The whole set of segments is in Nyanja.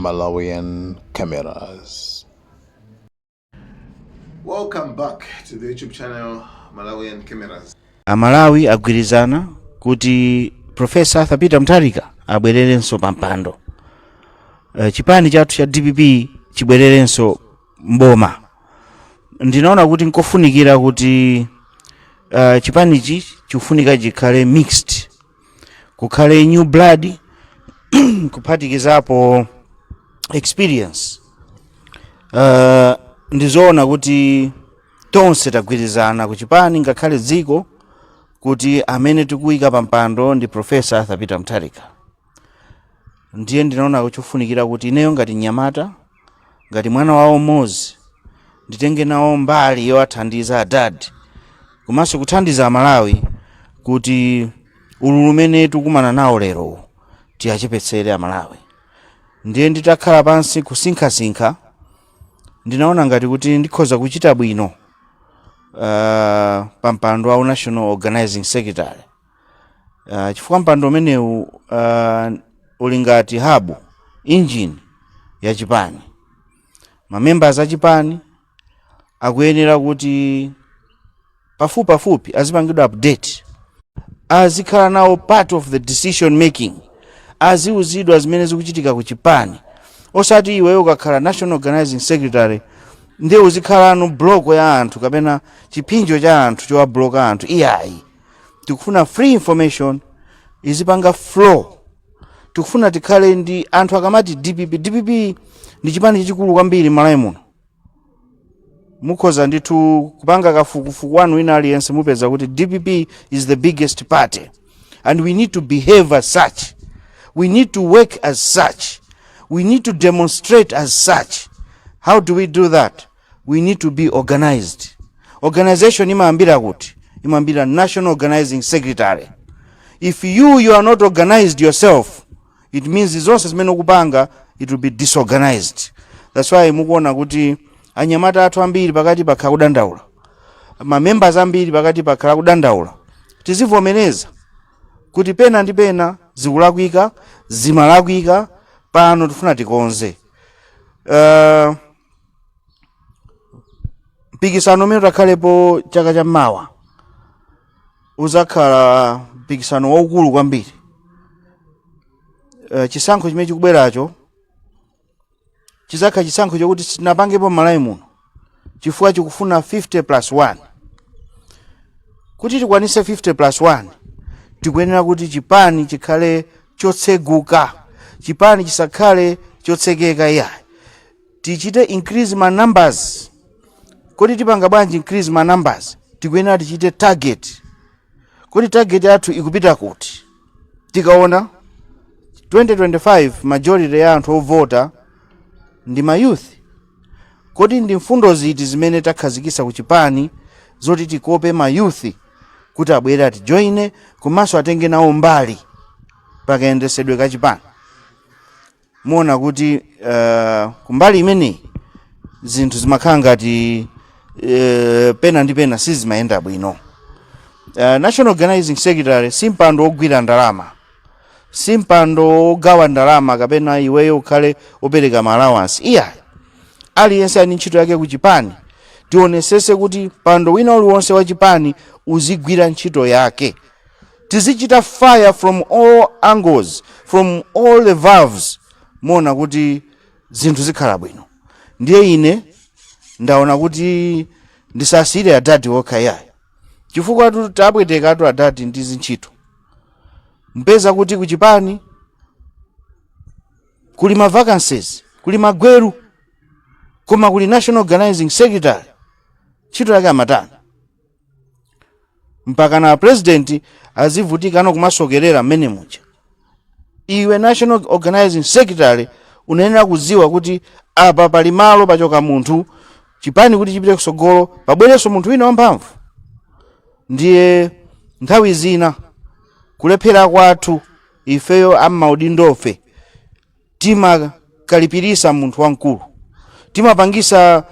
Malawian cameras. Welcome back to the YouTube channel Malawian cameras. Amalawi agwirizana kuti Professor Arthur Peter Mutharika abwererenso pa mpando. Uh, chipani chathu cha DPP chibwererenso mboma. Ndinaona kuti nkofunikira kuti uh, chipanichi chikufunika chikhale mixed kukhale new blood kuphatikizapo experience uh, ndizoona kuti tonse tagwirizana kuchipani ngakhale dziko kuti amene tikuyika pampando ndi profesa arthur peter mutharika ndiye ndinaona kuti chofunikira kuti ineyo ngati mnyamata ngati mwana wawo mmodzi nditenge nawo mbali yowathandiza adadi komanso kuthandiza amalawi kuti ululu umene tikukumana nawo lero tiwachepetsere amalawi ndiye nditakhala pansi kusinkhasinkha ndinaona ngati kuti ndikhoza kuchita bwino uh, pa mpando wa national organizing secretary uh, chifukwa mpando umenewu uh, uli ngati hub engine ya chipani mamembers a chipani akuyenera kuti pafupi pafupi azipangidwa update azikhala nawo part of the decision making aziuzidwa zimene zikuchitika ku chipani osati iweyo ukakhala national organizing secretary ndiye uzikhalano block ya anthu kapena chiphinjo cha anthu chowabloka anthu iyayi tikufuna free information izipanga flow tikufuna tikhale ndi anthu akamati dpp dpp ndi chipani chachikulu kwambiri malawi muno mukhoza ndithu kupanga kafukufuku wanu wina aliyense mupeza kuti dpp is the biggest party and we need to behave as such we need to work as such we need to demonstrate as such how do we do that we need to be organized organization imayambira kuti imayambira national organizing secretary if you you are not organized yourself it means zonse zimene ukupanga it will be disorganized that's why mukuona kuti anyamata athu ambiri pakatipa akhala akudandaula mamembers ambiri pakatipa akhala akudandaula tizivomereza kuti pena ndi pena zikulakwika zimalakwika pano tifuna tikonze uh, mpikisano umene utakhalepo chaka cha mawa uzakhala mpikisano waukulu kwambiri Eh, chisankho chimene chikubweracho chizakhala chisankho chokuti sitinapangepo Malawi muno chifukwa chikufuna 50 plus 1 kuti tikwanise 50 plus 1 tikuyenera kuti chipani chikhale chotseguka chipani chisakhale chotsekeka iyayi Tichite increase ma numbers, kodi tipanga bwanji increase ma numbers? Tikuyenera tichite target, kodi target yathu ikupita kuti? Tikaona 2025 majority ya anthu ovota ndi ma youth, kodi ndi mfundo ziti zimene takhazikitsa ku chipani zoti tikope ma youth kuti abwere atijoine komanso atenge nawo mbali pakayendesedwe ka chipani? muona kuti uh, kumbali imeneyi zinthu zimakhala ngati uh, pena ndi pena sizimayenda bwino uh, national organizing secretary si mpando wogwira ndalama si mpando wogawa ndalama kapena iweyo ukhale opereka ma allowance iyayi aliyense ali ndi ntchito yake ku chipani tionesese kuti mpando wina uliwonse wa chipani uzigwira ntchito yake tizichita fire from all angles from all the valves muona kuti zinthu zikhala bwino ndiye ine ndaona kuti ndisasiyire adadi okha iyayi chifukwatu tapwetekatu adadi ndi zintchito mpeza kuti kuchipani kuli ma vacancies kuli magweru koma kuli national organizing secretary ntchito yake amatani mpakana a president azivutikano kumasokerera mmene muja iwe national organizing secretary unayenera kudziwa kuti apa pali malo pachoka munthu chipani kuti chipite kusogolo pabwerenso munthu wina wamphamvu ndiye nthawi zina kulephera kwathu ifeyo ammaudindofe timakalipirisa munthu wamkulu timapangisa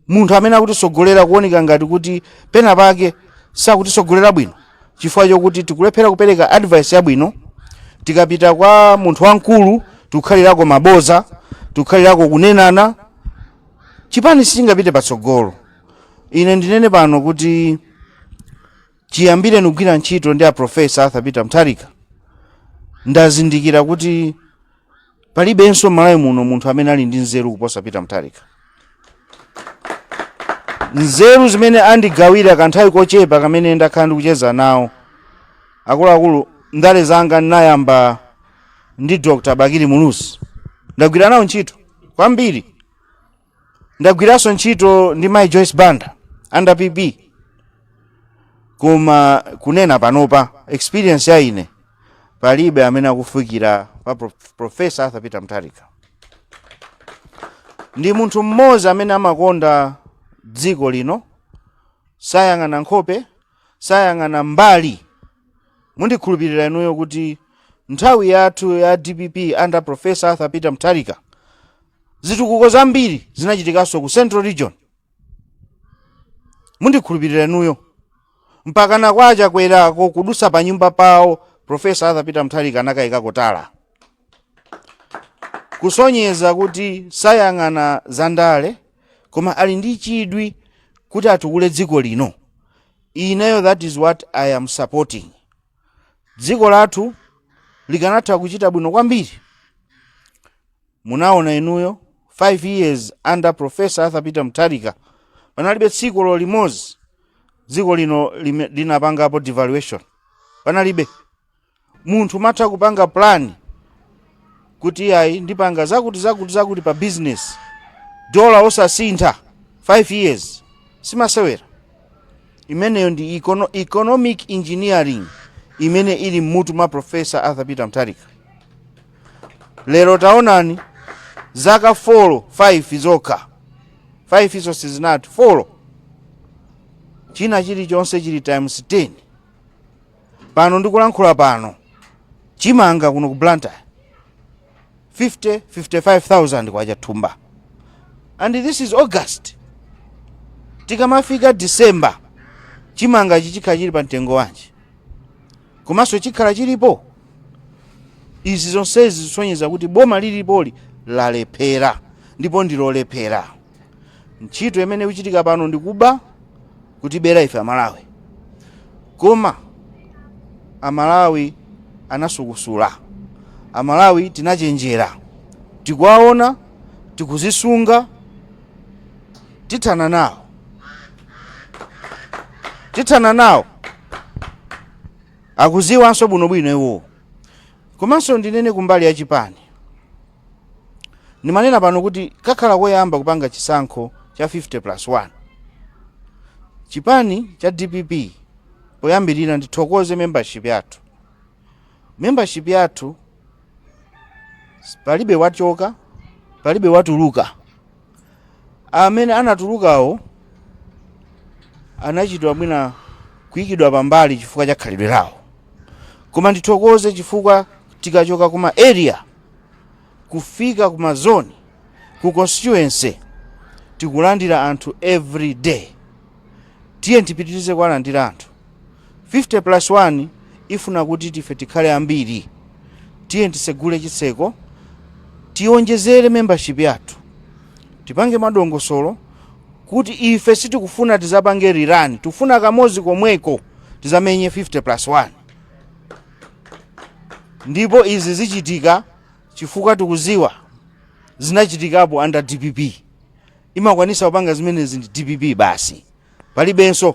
munthu amene akutisogolera kuoneka ngati kuti pena pake sakutisogolera bwino chifukwa chokuti tikulephera kupereka advice yabwino tikapita kwa munthu wamkulu tikukhalirako maboza tikukhalirako kunenana chipani sichingapite patsogolo ine ndinene pano kuti chiyambire kugwira ntchito ndi aprofesa arthur peter mutharika ndazindikira kuti palibenso malawi muno munthu amene ali ndi nzeru kuposa peter mutharika nzeru zimene andigawira kanthawi kochepa kamene ndakhala ndikucheza nawo akuluakulu ndale zanga ndinayamba ndi dr bakili muluzi ndagwira nawo ntchito kwambiri ndagwiranso ntchito ndi mai joyce banda under pp koma kunena panopa experience ya ine palibe amene akufikira pa profesa arthur peter mutharika ndi munthu mmodzi amene amakonda dziko lino sayang'ana nkhope sayang'ana mbali mundikhulupirira inuyo kuti nthawi yathu ya dpp under professor arthur peter mutharika zitukuko zambiri zinachitikanso ku central region mundikhulupirira inuyo mpakana kwa achakwerako kudusa pa nyumba pawo professor arthur peter mutharika anakayikako tala kusonyeza kuti sayang'ana zandale koma ali ndi chidwi kuti atukule dziko lino ineyo that is what i am supporting dziko lathu likanatha kuchita bwino kwambiri munaona inuyo 5 years under professor arthur peter mutharika panalibe tsiku lo limodzi dziko lino linapangapo devaluation panalibe munthu umatha kupanga plan kuti iyayi ndipanga zakuti zakuti zakuti pa business dola osasintha 5 years simasewera imeneyo ndi economic engineering imene ili mmutu mwa profesa arthur peter mtharika lero taonani zaka 4 5 zokha 5 izo sizinati 4 china chilichonse chili times 10 pano ndikulankhula pano chimanga kuno ku blantyre 50 55000 kwacha thumba and this is august tikamafika december chimanga ichi chikhala chili pa mtengo wanji komanso chikhala chilipo izi zonsezi zisonyeza kuti boma lilipoli lalephera ndipo ndilolephera ntchito imene ikuchitika pano ndikuba kutibera ife amalawi koma amalawi anasukusula amalawi tinachenjera tikuwaona tikuzisunga tithana nawo tithana nawo akuziwanso bwinobwino iwowo komanso ndinene kumbali ya chipani Ndimanena pano kuti kakhala koyamba kupanga chisankho cha 50 plus 1. Chipani cha dpp poyambirira ndithokoze membership yathu. Membership yathu palibe wachoka, palibe watuluka. Amene anatulukawo anachitwa mwina kuyikidwa pambali chifukwa cha khalidwe lawo, koma ndithokoze chifukwa tikachoka kuma area kufika kuma zone ku constituency tikulandira anthu every day. Tiye tipitirize kuwalandira anthu. 50 plus 1 ifuna kuti ife tikhale ambiri tiye tisegule chitseko tionjezere membership yathu tipange madongosolo kuti ife sitikufuna tizapange rerun tikufuna kamozi komweko tizamenye 50 plus 1 ndipo izi zichitika chifukwa tikuziwa zinachitikapo and dpp imakwanisa kupanga zimenezi ndi dpp basi palibenso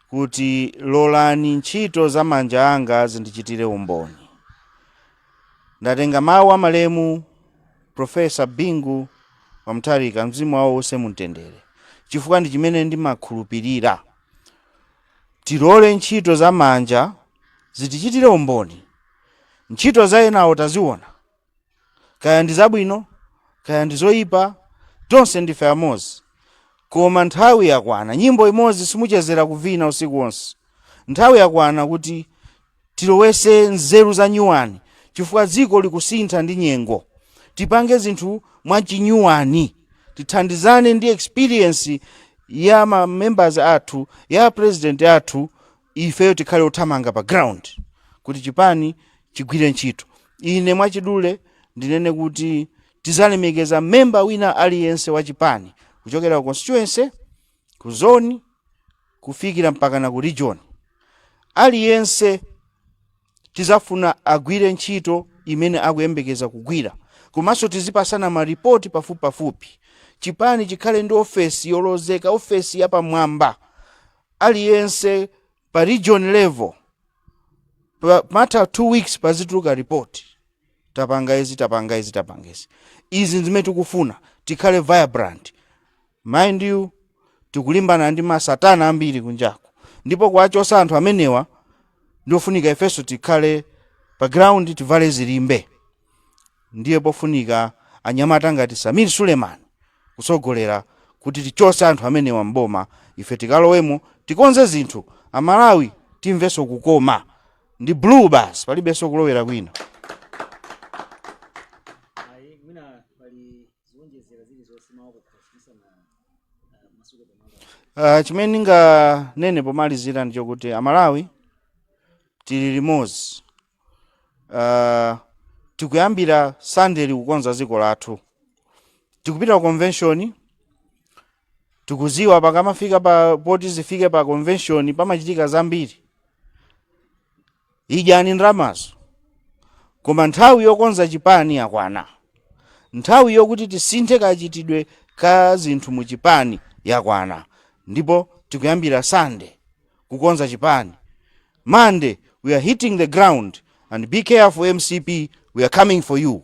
kuti, Lolani ntchito za manja anga zindichitire umboni. Ndatenga mawu a malemu Prof. Bingu wa Mutharika, mzimu wawo uuse mu mtendere, chifukwa ndi chimene ndimakhulupirira. Tilole ntchito za manja zitichitire umboni. Ntchito za enawo taziona, kaya ndi zabwino kaya ndi zoyipa tonse ndife amodzi koma nthawi yakwana nyimbo imodzi simuchezera kuvina usiku wonse nthawi yakwana kuti tilowese nzeru za nyuwani chifukwa dziko likusintha ndi nyengo tipange zinthu mwachinyuwani tithandizane ndi experience ya ma members athu ya president athu ifeyo tikhale othamanga pa ground kuti chipani chigwire ntchito ine mwachidule ndinene kuti tizalemekeza memba wina aliyense wa chipani kuchokera ku constituency ku zone kufikira mpaka na ku region aliyense Tizafuna agwire ntchito imene akuyembekeza kugwira komanso tizipasana ma report pafupipafupi. Chipani chikhale ndi ofesi yolozeka, ofesi yapamwamba. Aliyense pa region level pamatha two weeks pazituluka report. Tapanga izi, tapanga izi, tapanga izi. Izi zimene tikufuna. Tikhale vibrant. Mind you tikulimbana ndi masatana ambiri kunjaku ndipo kuwachosa anthu amenewa ndiofunika ifenso tikhale pa ground tivale zilimbe ndiye pofunika anyamata ngati Sameer Suleman kusogolera kuti tichose anthu amenewa m'boma ife tikalowemo tikonze zinthu amalawi timvenso kukoma ndi blue basi palibenso kulowera kwina Uh, chimene ndinganene pomalizira ndi chokuti amalawi tili limodzi uh, tikuyambira sunday kukonza dziko lathu tikupita ku convention tikuziwa pakamafika pa poti zifike pa convention pamachitika zambiri Idyani ndramazo koma nthawi yokonza chipani yakwana. Nthawi yokuti tisinthe kachitidwe ka zinthu mu chipani yakwana ndipo tikuyambira Sunday kukonza chipani. Monday we are hitting the ground and be careful mcp we are coming for you.